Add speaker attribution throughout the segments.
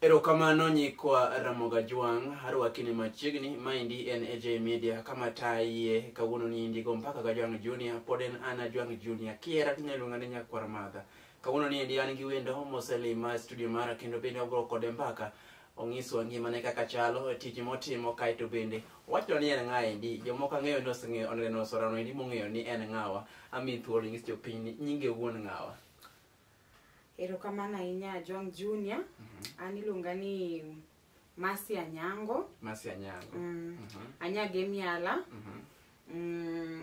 Speaker 1: erokamano nyikwa ramoga jwang' arwaki ni machiegni maendi en aj media kama taye kawuono ni indigo mpaka ga jwang' junior pod en ana jwang' junior kiera tinyaluonga ni nyakwar madha kawuono ni endi an gi wendo moselima e studio mara kendo bende wabro kode mbaka Onyiswa ngimane kaka chalo, tich motimo, kae to bende owacho ni en ng'a endi. Jomoko ang'eyo ni oseng'eyo oneno sorano endi mong'eyo ni en ng'awa. Amiyi thuolo inyis jopiny ni nyinge wuon ng'awa.
Speaker 2: Erokamano ahinya Ajwang' Junior. An iluonga ni Mercy Anyango. Mercy Anyango. Mm.
Speaker 1: Mhm. Anyage
Speaker 2: miala. Mhm. Mm,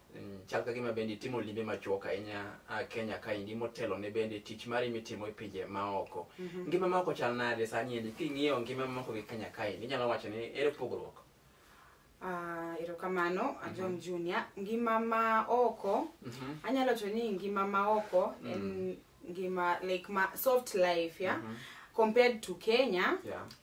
Speaker 1: Mm, chal ka gima bende itimo limbe machuok ahinya a kenya kaendi motelo ne bende tich mari mitimo e pinje maoko Mhm. ngima maoko chal nade sani endi king'iyo ngima maoko gi kenya kaendi inyalo wacho ni ere pogruok Ah, erokamano
Speaker 2: ajom junior ngima ma oko Mhm. anyalo to ni ngima ma oko en ngima like ma soft life ya Mhm. compared to kenya Yeah.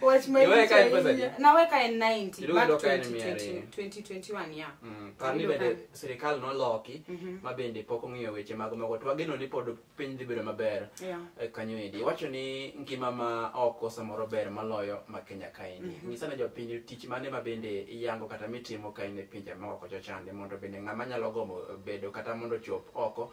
Speaker 2: Watch my Iwe kae pesa video. je? Nawe kae 90 Ilu back ilo kae ni mia 2020 ariyo. 2021 yeah. Mm, par ni bende
Speaker 1: sirikal noloki ma bende pok ong'iyo weche mag mago to wageno ni pod piny dhi bedo maber Yeah. eh, kanyo endi iwacho ni ngima ma oko samoro ber maloyo ma kenya kaendi nyisa ne jopiny tich mane ma bende iyango kata mitimo kaendi e pinje maoko chochande mondo bende ng'ama nyalo gombo bedo kata mondo chop oko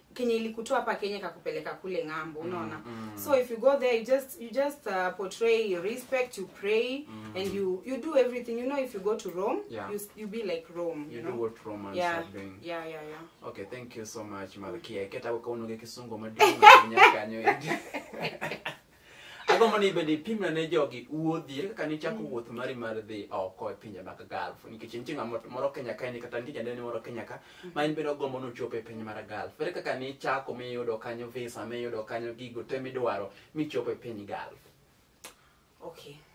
Speaker 2: kenye ilikutoa hapa kenya kakupeleka kule ng'ambo unaona mm. so if you go there you just you just uh, portray your respect you pray mm. and you you do everything you know if you go to rome Yeah. you, s- you be like rome you, You know do what Romans yeah. are doing.
Speaker 1: yeah yeah yeah Okay,
Speaker 2: thank you
Speaker 1: so much, Malkia. Keta ukaonoge kisungu madini kanyo. agombo ni bende ipimna ne jogi wuodhie kaka nichako mm. wuoth mari mar dhi oko e pinje mag galf nikech nitie ng'at moro kenya ka ni kata nitie jandene moro kenya ka mm. ma in bende ogombo ni ochopo e piny mar galf ere kaka nichako miyudo kanyo visa miyudo kanyo gigo te midwaro michopo e piny galf
Speaker 2: okay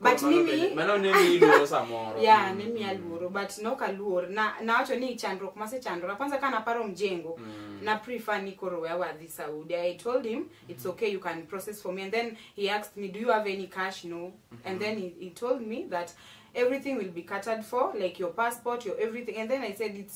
Speaker 2: But Mano mimi- bende- mano ne miyi luoro
Speaker 1: samoro ya Mm, ne miya mm, luoro
Speaker 2: but nok aluor na nawacho ni chandruok masechandora kwanza ka naparo mjengo mm. na prefer ni koro wewe wadhi saudi i told him it's okay you can process for me and then he asked me do you have any cash no and then he, he told me that everything will be catered for like your passport your everything and then i said it's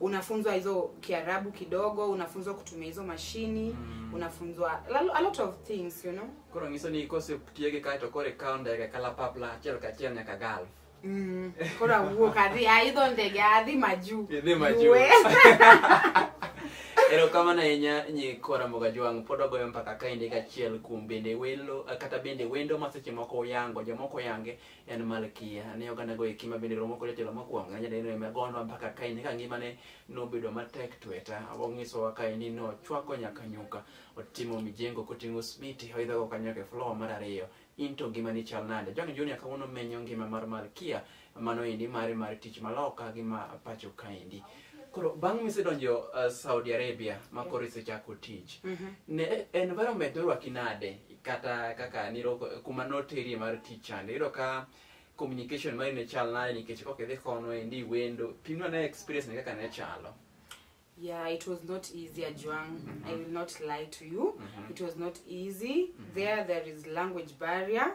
Speaker 2: unafunzwa hizo kiarabu kidogo unafunzwa kutumia hizo mashini Mm. unafunzwa a lo- a lot of things you know koro nyiso ni kose
Speaker 1: tiyo gi kae to koro ikawo ndege kalapapla achiel kachiel nyaka galf mm. koro
Speaker 2: awuok adhi aidho ndege adhi majuu Idhi majuu. Yue.
Speaker 1: erokamano ahinya nyi kora mboga jwang' pod ogoyo mpaka kaendi kachiel kuom bende welo kata bende wendo ma seche moko uyango jomoko yange en Malkia. Ne oganda go eki ma bende romo kod jatelo mokwongo ne jadeno ema gondwa mpaka kaini ka ngimane nobedo matek tweta. Onyisowa kaini nochwako nyaka nyuka, otimo mijengo koting'o smiti, oidhogo kanyo nyaka e floor mar ariyo. In to ngimani chal nade? John Junior kawuono menyo ngima mar Malkia mano endi mare mar tich maloka gi ma pacho kaendi. Koro bang' misedonjo uh, Saudi Arabia ma koro isechako tich, ne environment norwaki nade kata kaka niro kuma noterie mar tich chande iyudo ka communication mari ne chal nade nikech kok idhi kono endi wendo pimno ne experience ne kaka ne chalo Yeah, it
Speaker 2: was not easy, Ajuang. I will not lie to you. It was not easy. There, there is language barrier.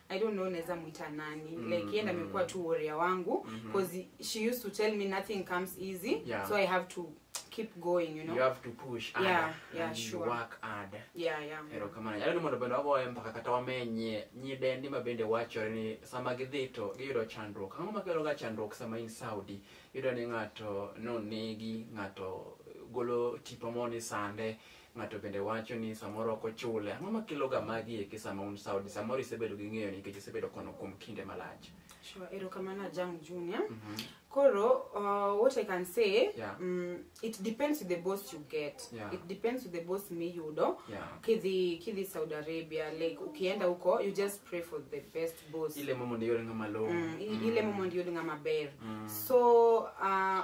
Speaker 2: I don't know naweza muita nani mm, like yenda amekuwa tu warrior wangu because mm -hmm. she used to tell me nothing comes easy Yeah. so I have to keep going you know you have to push harder Yeah,
Speaker 1: yeah, and sure. work harder yeah yeah erokamana
Speaker 2: yalo ni mondo bende
Speaker 1: wagoye mpaka kata wamenye nyidendi ma bende wachore ni sama gidhi to giyudo chandruok ang'o makeloga chandruok sama in saudi yudo ni ng'ato nonegi ng'ato golo tipo mo ni sande Ng'ato bende wacho ni samoro ok ochule. Ang'o ma keloga magi eki sama un Saudi? Samoro isebedo gi ng'eyo nikech isebedo kono kuom kinde malach. Sure, erokamano
Speaker 2: Ajang Junior. Mhm. Koro, uh, what I can say, Yeah. mm, it depends with the boss you get. Yeah. It depends with the boss miyudo. Yeah. Kidhi kidhi Saudi Arabia, like ukienda huko, you just pray for the best boss. Ile momo ndiyo ng'ama
Speaker 1: lowo. Mm, i- ile momo ndiyo
Speaker 2: ng'ama ber. Mm. So, uh,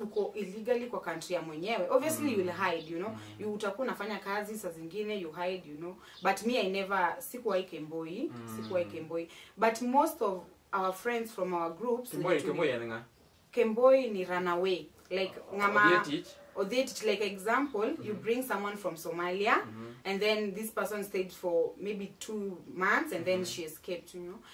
Speaker 2: uko illegally kwa country ya mwenyewe obviously you will hide you know you utakuwa unafanya kazi saa zingine you hide you know but me i never sikuwahi kemboi sikuwahi kemboi but most of our friends from our groups Kimboi, tuli- Kimboi yani nga. kemboi ni runaway like ngama Odietic. Odietic, like example you bring someone from somalia and then this person stayed for maybe two months and then she escaped you know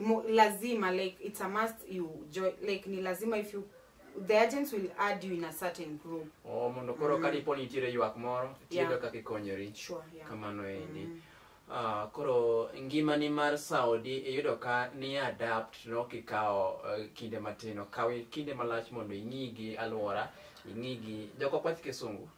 Speaker 1: mo, lazima
Speaker 2: like it's a must you join like ni lazima if you the agents will add you in a certain group oh, mondo koro mm. kadipo
Speaker 1: nitiere ywak moro tiyudo yeah. kaka ikonyori sure, yeah. kamano
Speaker 2: endi
Speaker 1: mm. Uh, koro ngimani mar saudi iyudo ka ni adapt no kikawo uh, eh, kinde matin okawi kinde malach mondo ing'i gi alwora ing'i gi joko kwath kisungu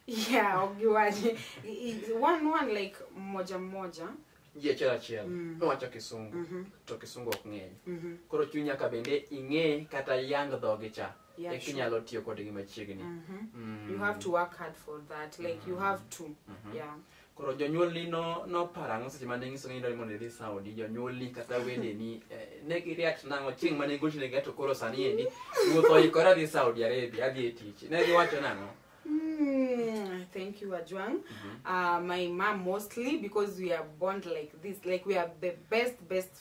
Speaker 1: yeah ogiwaje I- i-
Speaker 2: one one like moja moja ji achiel achiel
Speaker 1: Mm. nowacho kisungu Mhm. to kisungu ok ng'eny Mhm. koro chuny nyaka bende ing'e kata yang dhogi cha Yeah, eka sure. inyalo tiyo kodgi machiegni Mhm. Mm. you have
Speaker 2: to work hard for that like you have to yeah Koro
Speaker 1: jonyuolni no noparo ang'o seche mane inyisogi ni idwaro mondo idhi Saudi? Jonyuolni kata wedeni eh, ne gi react nang'o chieng' mane igochonegi ato koro sani endi wuoth oikore adhi Saudi Arabia adhi e tich. Ne giwacho nang'o? Mm,
Speaker 2: thank you, Ajwang. Uh, my mom mostly because we are born like this, like we are the best, best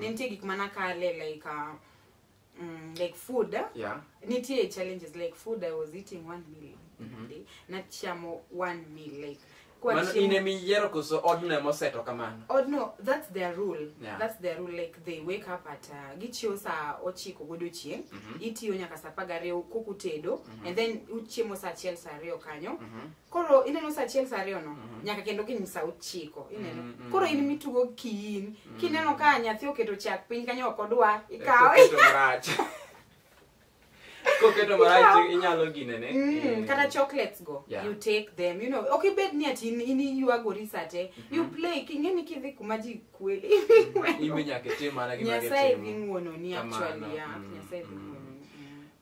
Speaker 2: ne nitie gik mana kale like uh, mm, like food yeah nitie challenges like food i was eating one meal Mhm. a day nachamo one meal like kwa mano chiemo- in ema
Speaker 1: iyiero koso odno ema oseto kamano Oh no, that's their
Speaker 2: rule. Yeah. That's their rule. Like they wake up at uh, gichiew saa ochiko godiochieng', Mhm. itiyo nyaka saa apar gariyo kokutedo, Mhm. and then uchiemo saa achiel saa ariyo kanyo. Mhm. koro ineno sa achiel sa ariyo no nyaka kendo gin sa ochiko ineno Mm, mm. koro in mitugo kiin kineno ka nyathi oketo chak piny kanyo ok odwa ikawe Koketo marach.
Speaker 1: Koketo marach inyalo ginene. Mm, kata chocolates go
Speaker 2: Yeah. you take them you know ok ibed ni ati in- in iywagori sa te you play king'eni kidhi kuma ji kweli Imbe nyaka
Speaker 1: itim mana gima nyasaye gitimo. dhi ng'wononi
Speaker 2: Kamano, actually yeah, mm, nyasaye dhi mm. ng'wononi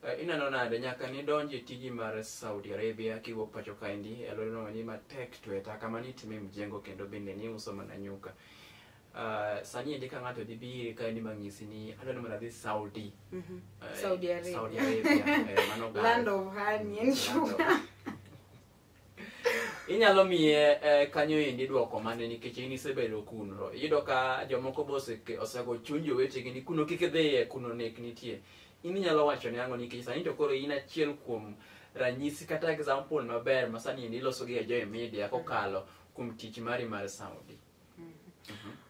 Speaker 2: Eh, ineno
Speaker 1: nade nyaka nidonj e tiji mar saudi arabia kiwuok pacho kaendi e alworano ni matek to e taka mani itime mjengo kendo bende ni uso mana nyuka Uh, sani endi ka ng'ato dhi biri kaendi mang'isi ni adwa ni mondo adhi saudi Mhm. Eh, Saudi Arabia. saudi arabia eh, mano gal. Land of honey
Speaker 2: and sugar.
Speaker 1: inyalo miye eh, kanyo endi dwoko mane nikech in isebedo kuno iyudo ka jomoko be oseke- osego chuny jowetegi ni kuno kik idhiye kuno nek nitie in inyalo wacho ne ang'o nikech sani to koro in achiel kuom ranyisi kata example maber ma sani endi iloso gi e joy media kokalo kuom tich mari mar saudi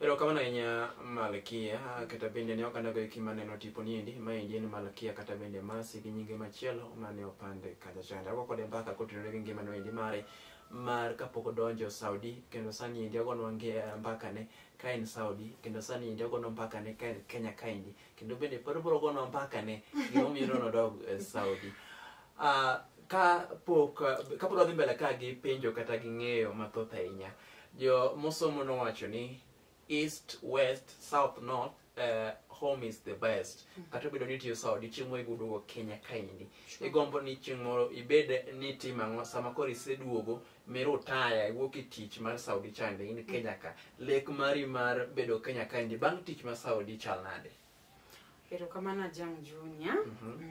Speaker 1: Erokamano ahinya Malkia, kata bende ne ok anago eki maneno tipo niendi, maendi en Malkia kata bende Masi gi nyinge machielo mane opande kacha chande. Ago kode mbaka kotenore gi ngima noendi mare mar kapok odonjo Saudi kendo sani endi agonwa nge- mbakane ka en Saudi kendo sani endi agonwa mbakane ka en Kenya kaendi kendo bende pod obiro gonwa mbakane gimomiyo nono dog eh, Saudi. Ah, ka pok ka pod wadhi mbele ka gi penjo kata gi ng'eyo mathoth ahinya Jo mosomo nowacho ni east, west, south, north uh, home is the best. Kata obedo ni itiyo sa odiochieng' moro iduogo Kenya kaendi. Igombo ni chieng' moro ibed ni itimo ang'o sama koro iseduogo mirutaya iwuok e tich mar Saudi chande in Kenya ka. Lek mari mar bedo Kenya kaendi bang' tich ma Saudi chal nade?
Speaker 2: Erokamano Ajang' Junior. Mhm.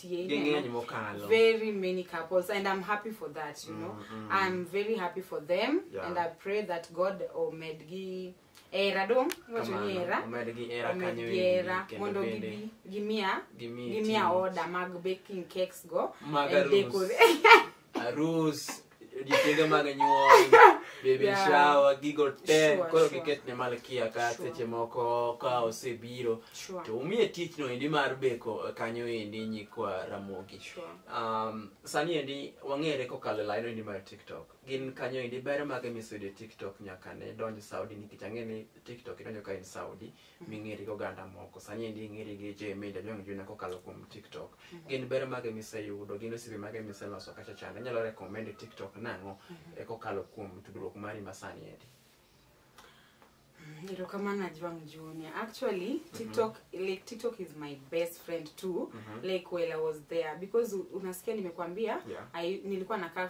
Speaker 2: tie ging'eny mokalo very many couples and i'm happy for that you know mm, mm. i'm very happy for them yeah. and i pray that god omedgi era dong wacho ni era omedgi era kanyo era mondo gibi gimia gimia order mag baking cakes go mag arus arus
Speaker 1: odiochienge mag nyuol baby Yeah. shower gigo te Sure, koro sure. giketne malkia ka Sure. seche moko ka osebiro Sure. to umiye tich no endi mar beko kanyo endi nyikwa ramogi Sure. um, sani endi wang'ere kokalo e laino endi mar tiktok gin kanyo endi ber mage miseyudo e tiktok nyaka ne donj saudi nikech ang'e ni tiktok idonjo ka in saudi ming'eri gi oganda moko sani endi ing'eri gi je media jong juna kokalo kuom tiktok gin ber mage miseyudo gin osiepe mage miseloso kacha chande inyalo recommend e tiktok nang'o e kokalo kuom tudruok mari masani endi
Speaker 2: erokamano ajwang junior actually tiktok like tiktok is my best friend too like while i was there because u- unasikia nimekwambia Yeah. I, nilikuwa nakaa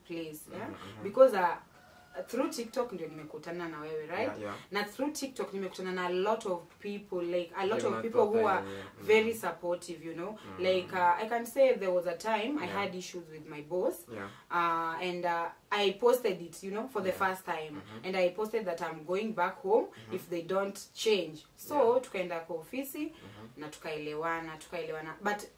Speaker 2: place yeah? because uh, through tiktok ndio nimekutana na wewe right Yeah, yeah. na through tiktok nimekutana na a lot of people like a lot Like of my people who profile, are yeah. Mm. very supportive you know like uh, i can say there was a time i Yeah. had issues with my boss Yeah. uh, and uh, I posted it, you know, for the first time, and I posted that I'm going back home if they don't change. So tukaenda kwa ofisi na tukaelewana, tukaelewana, but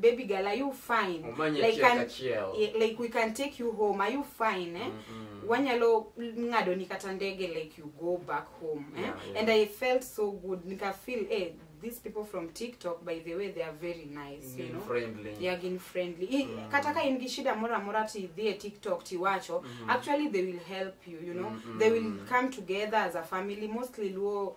Speaker 2: baby girl are you fine Omanya like, achiel an- kachiel. yeah, like we can take you home are you fine eh? Mm-mm. wanyalo ng'ado ni kata ndege like you go back home eh? Yeah, yeah. and i felt so good nika feel eh, these people from tiktok by the way they are very nice you Being know friendly. yeah, gin
Speaker 1: friendly
Speaker 2: I, Mm. kata ka in gi shida moro amora ti idhi e tiktok tiwacho Mhm. actually they will help you you know Mhm. they will come together as a family mostly luo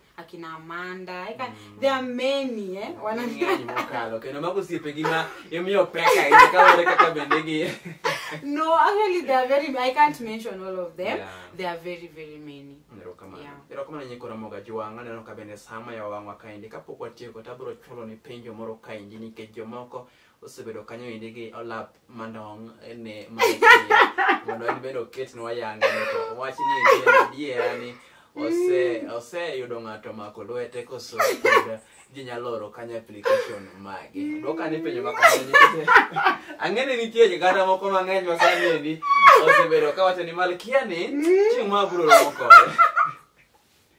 Speaker 2: akina amanda eka there are many eh wana Ng'eny mokalo kendo mago osiepegi ma imiyo pek ahinya kaluwore kaka bende gi no actually there are very i can't mention all of them Yeah. there are very very many erokamano Yeah. erokamano nyeko ramoga jwang' aneno ka bende sama yawa wang'wa kaendi kapok watieko
Speaker 1: to abiro chulo ni penjo moro kaendi nikech jomoko osebedo kanyo endi gi olap mandong ne mondo en bende oketnwa yanga to wach ni adiera ni oseyudo ng'ato mako lwete koso ginyalo oro kanyo application mage dwoka ni penjo makamanyikete ang'eni nitie jiganda moko mang'eny masaniendi osebedo kawacho ni malkia ni chieng' ma abiro romo kode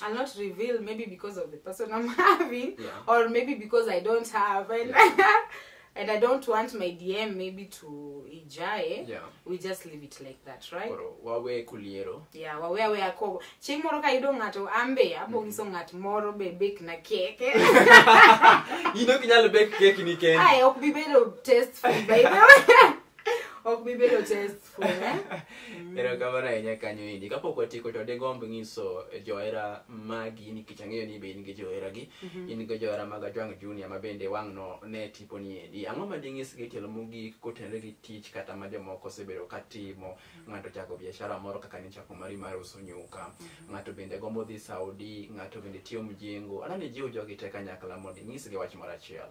Speaker 2: I'll not reveal maybe because of the person I'm having Yeah. or maybe because I don't have and and I don't want my DM maybe to ijae. Yeah. We just leave it like that, right? Koro wawe kuliero.
Speaker 1: Yeah, wawe awe akobo.
Speaker 2: Chieng' moro ka yudo ng'ato ambe abongiso ng'at moro be bake na keke.
Speaker 1: Ino
Speaker 2: kinyalo
Speaker 1: bake
Speaker 2: keki ni
Speaker 1: kendi.
Speaker 2: Aye, ok bi
Speaker 1: bedo
Speaker 2: test
Speaker 1: food
Speaker 2: by the
Speaker 1: way.
Speaker 2: ok bibedo testful eh?
Speaker 1: erokamano ahinya kanyo endi kapok watieko to digomb nyiso johera magi nikech ang'eyo ni be in gi johera gi mhm. in gi johera mag ajwang junior ma bende wang'no ne tipo ni endi ang'o ma ding'is gi tielo mogik kotenre gi tich kata ma jomoko osebedo ka timo mhm. ng'ato chako biashara moro kaka ni chako mari mar uso nyuka mhm. ng'ato bende gombo dhi saudi ng'ato bende tiyo mjengo anani jiwo jogi te kanyakla mondo ing'isgi wach moro achiel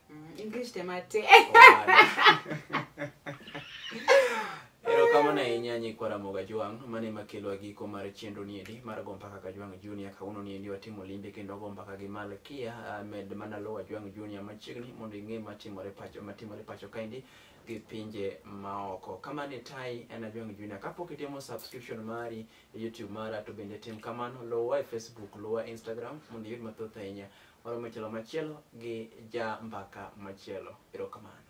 Speaker 2: Mm, English
Speaker 1: te mate. erokamano ahinya nyikwa ramogo ajwang' mane ema kelwa giko mar chenro niendi mar go mpaka kajwang' junior kawuono niendi watimo limbe kendo go mpaka gi malkia ah, med mana luwo ajwang' junior machiegni mondo ing'e matimore pacho matimore pacho kaendi gi pinje maoko kamane tai en ajwang' junior kapok itimo subscription mari e youtube mara to bende tim kamano luwa e facebook luwa e instagram mondo iyud mathoth ahinya Waromo e tielo machielo gi ja mbaka machielo. Erokamano.